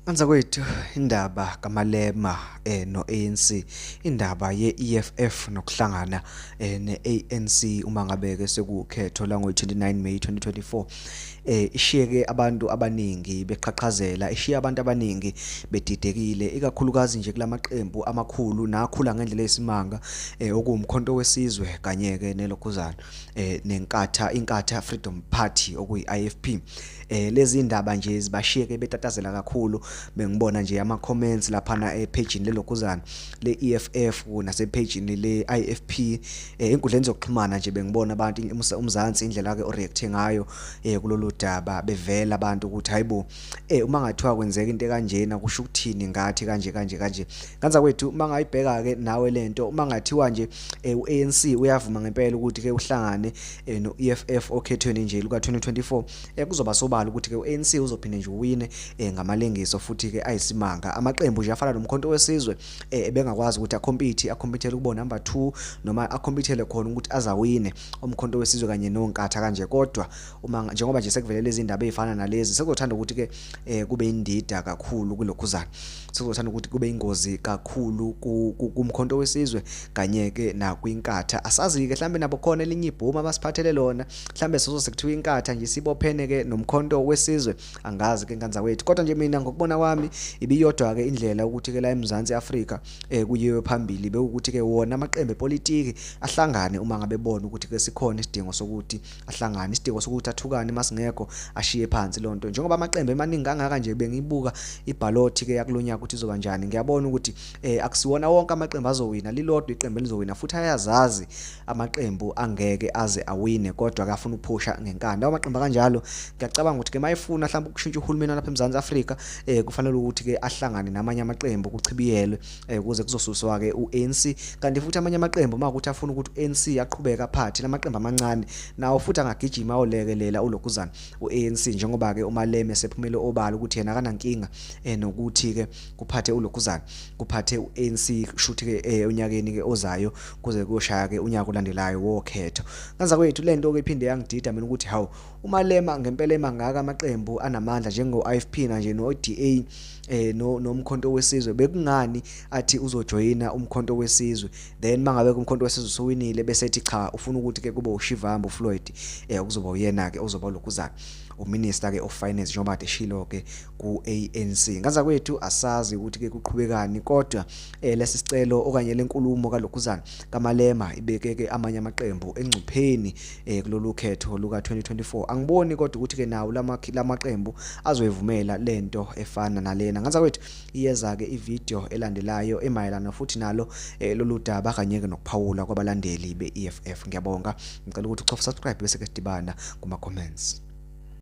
Anza kwethu indaba kaMalema eh noANC indaba yeEFF nokuhlangana eh neANC uma ngabe ke sekukhetho la ngo29 May 2024 eh ishiyeke abantu abaningi beqhaqhazela ishiye abantu abaningi bedidekile ikakhulukazi nje kulamaqembu amakhulu nakhula ngendlela yesimanga eh okuwumkhonto wesizwe kanye ke nelokuzana eh nenkatha inkatha Freedom Party okuyiIFP eh lezi ndaba nje zibashiyeke betatazela kakhulu bengibona nje ama comments lapha na e page lelokuzana le EFF nase page le IFP eh inkundleni zokuxhumana nje bengibona abantu umzansi indlela ke oreact ngayo eh kulolu daba bevela abantu ukuthi hayibo eh uma ngathiwa kwenzeka into kanjena kusho ukuthini ngathi kanje kanje kanje kanza kwethu uma ngayibheka ke nawe lento uma ngathiwa nje eh, u ANC uyavuma ngempela ukuthi ke uhlangane eh, no-EFF okhethweni nje luka-2024 eh, kuzoba sobala ukuthi-ke u-ANC uzophinde nje uwine eh, ngamalengiso futhi-ke ayisimanga amaqembu nje afana nomkhonto wesizwe eh, ebengakwazi ukuthi akhompithe akhompithele ukuba number 2 noma akhompithele khona ukuthi azawine umkhonto wesizwe kanye nonkatha kanje kodwa uma njengoba nje sekuvelele izindaba ezifana nalezi sekuzothanda ukuthi-ke eh, kube indida kakhulu kulokhuzana sizothanda ukuthi kube ingozi kakhulu kumkhonto wesizwe kanye-ke nakwinkatha asazi-ke mhlawumbe nabo khona elinye ibhomu abasiphathele lona mhlawumbe sizose kuthiwa inkatha nje sibophene-ke nomkhonto wesizwe angazi-ke nkanza wethu kodwa nje mina ngokubona kwami ibiyodwa-ke indlela ukuthi-ke la emzansi afrika um eh, kuyiwe phambili bewukuthi-ke wona amaqembu epolitiki ahlangane uma ngabe bona ukuthi-ke sikhona isidingo sokuthi ahlangane isidingo sokuthi athukane masingekho ashiye phansi loo nto njengoba amaqembu emaningi kangaka nje bengibuka ibhalothi ke yakulo nyaka ukuthi izoba njani ngiyabona ukuthi eh akusiwona wonke amaqembu azowina lilodwa iqembu elizowina futhi ayazazi amaqembu angeke aze awine kodwa akafuna ukuphusha ngenkanda amaqembu kanjalo ngiyacabanga ukuthi ke mayefuna mhlawumbe ukushintsha uhulumeni lapha eMzansi Afrika eh kufanele ukuthi ke ahlangane namanye amaqembu kuchibiyelwe eh kuze kuzosuswa ke uANC kanti futhi amanye amaqembu uma ukuthi afuna ukuthi uANC aqhubeka phathi lamaqembu amancane nawo futhi angagijima olekelela ulokuzana uANC njengoba ke uMaleme sephumele obala ukuthi yena akanankinga eh nokuthi ke kuphathe ulokuzana kuphathe uANC shuthi ke eh, unyakeni ke ozayo kuze kuyoshaya ke unyaka olandelayo wokhetho kanza kwethu lento ke iphinde yangidida mina ukuthi hawu umalema ngempela emangaka amaqembu anamandla njengo-ifp nanje no-da eh no nomkhonto wesizwe bekungani athi uzojoyina umkhonto wesizwe then mangabe kumkhonto wesizwe usuwinile bese ethi cha ufuna ukuthi ke kube ushivambo Floyd eh kuzoba uyena ke ozoba lokuzana uminister ke of finance njengoba eshilo ke ku ANC ngaza kwethu asazi ukuthi ke kuqhubekani kodwa eh, lesi sicelo okanye lenkulumo kalokuzana kamalema ibeke ke amanye amaqembu engcupheni eh kulolu khetho luka 2024 angiboni kodwa ukuthi ke nawo lama lamaqembu azoyivumela lento efana nalena ngathi kwethu iyeza ke ivideo elandelayo emayelana futhi nalo eh, lolu daba kanye ke nokuphawula kwabalandeli beEFF ngiyabonga ngicela ukuthi uchofa subscribe bese ke sidibana kuma comments